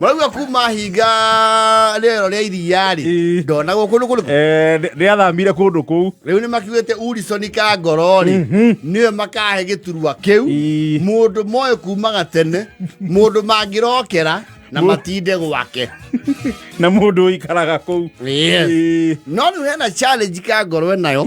murauga kuma hinga rĩero rĩa iria rĩ Ĩĩ. ndona gũkũ nĩ kũrĩkũ Eh, nĩ- nĩ athamire kũndũ kũu rĩu nĩ makiugĩte urisoni ka ngoro rĩ nĩwe makahe gĩturwa kĩu Ĩĩ. mũndũ moĩ kumaga tene mũndũ mangĩrokera na Mũ- matinde gwake na mũndũ ũikaraga kũu Yes. Ĩĩ. no rĩu hena challenge ka ngoro nayo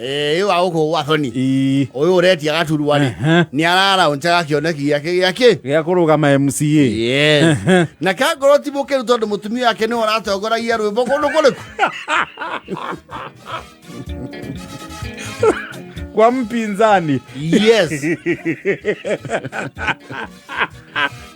Eh, ĩyo wa gũkũ gwa thoni Ii. ũyũ ũretia gaturwa rĩ Ehe. nĩ ararauncaga kĩoneki gĩake gĩakĩ gĩa kũrũgama mca Yes. na kangorwo ti mũkĩru tondũ mũtumia wake nĩ ũratongoragia rwĩmbo kũndũ kũrĩku kwa mpinzani yes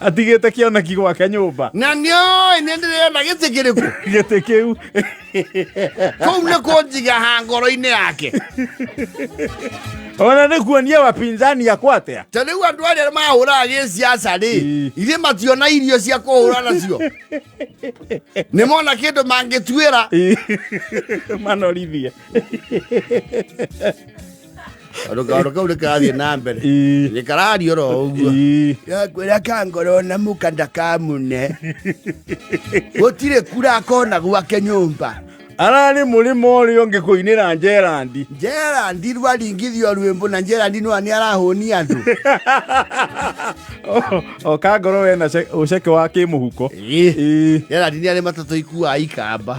atigĩte kĩoneki gwake nyũmba na nĩoĩ nĩ ndĩrĩona gĩtĩ kĩrĩkũ gĩtĩ kĩu kũu nĩ kũnjigaha ngoro-inĩ yake ona nĩ kuonia wapinzani akwa atia ta rĩu andũ arĩa mahũraga gĩciaca rĩ Ii. ithe mationa irio cia kũhũra nacio nĩ mona kĩndũ mangĩtuĩra manorithie rũgano kau rĩkarathiĩ na mbere Ii. rĩkarario ro ũguo Ii. yakwĩra kangoro na mũka ndakamune gũtirĩ kura kona gwake nyũmba ararĩ mũrĩmo ũrĩa ũngĩ kũinĩra njerandi njerandi rwaringithio rwĩmbo na njerandi nwa nĩ arahũni andũ o kangoro we na ce- ũceke wa kĩmũhuko Ĩ. Ĩ. njerandi nĩ arĩ matatũ ikuaa ikamba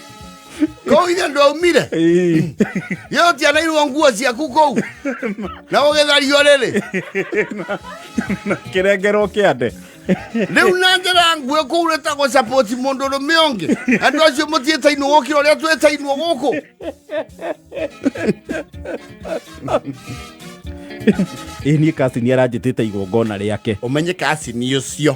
no ithe ndwaumire Ii. yo tianairwo nguo ciaku kũu na ũgĩthario rĩrĩ kĩrengerwo kĩande rĩu na njĩra nguĩ kũu nĩ ta gũcapoti mũndũ rũme ũngĩ andũ acio mũtiĩtainwo gũkĩra ũrĩa twĩtainwo gũkũ ĩ niĩ kasini aranjĩtĩte igongona rĩake ũmenye kacini ũcio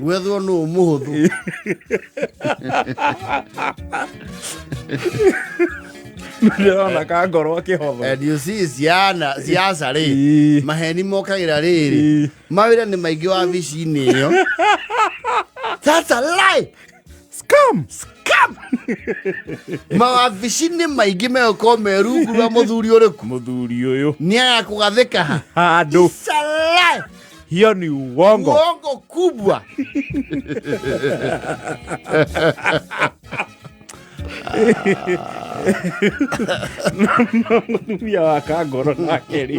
gwethwo nũ mũhũthũ ndĩrona ka ngoro akĩhotho and you see ciana ciaca rĩ Ii. maheni mokagĩra rĩrĩ Ii. mawĩra nĩ maingĩ wabici-inĩ ĩyo That's a lie. scam scam mawabici-inĩ maingĩ megũkorwo me rungu rwa mũthuri ũrĩku mũthuri ũyũ nĩ agakũgathĩka ha handũ Salai! hiyo ni uongo uongo kubwa mũtumia wa kangoro nake rĩ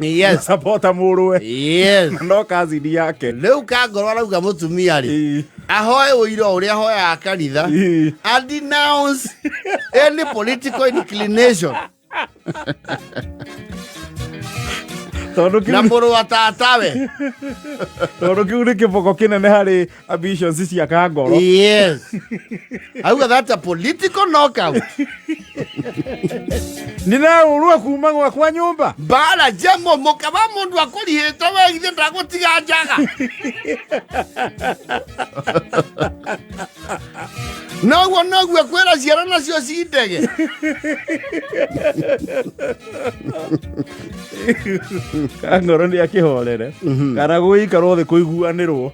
yes sapota mũrũwe yes no kazini yake rĩu kangorwo arauga mũtumia rĩ ahoe ũira ũrĩa ahoyaga kanitha and denounce any political inclination na må rå wa tatawe tondå kä u nä kä boko kä nene harä ambitions cia kangoro yes auga that's a political knockout ndinahurua kuma gwakwa nyumba mbara njeng'o mũka wa mũndũ akũrihĩte we ithe ndagũtiga njaga noguo noguo kwĩra ciara nacio ci ndege kangoro nä akä horere kana gå ikarwo thä kå iguanä rwo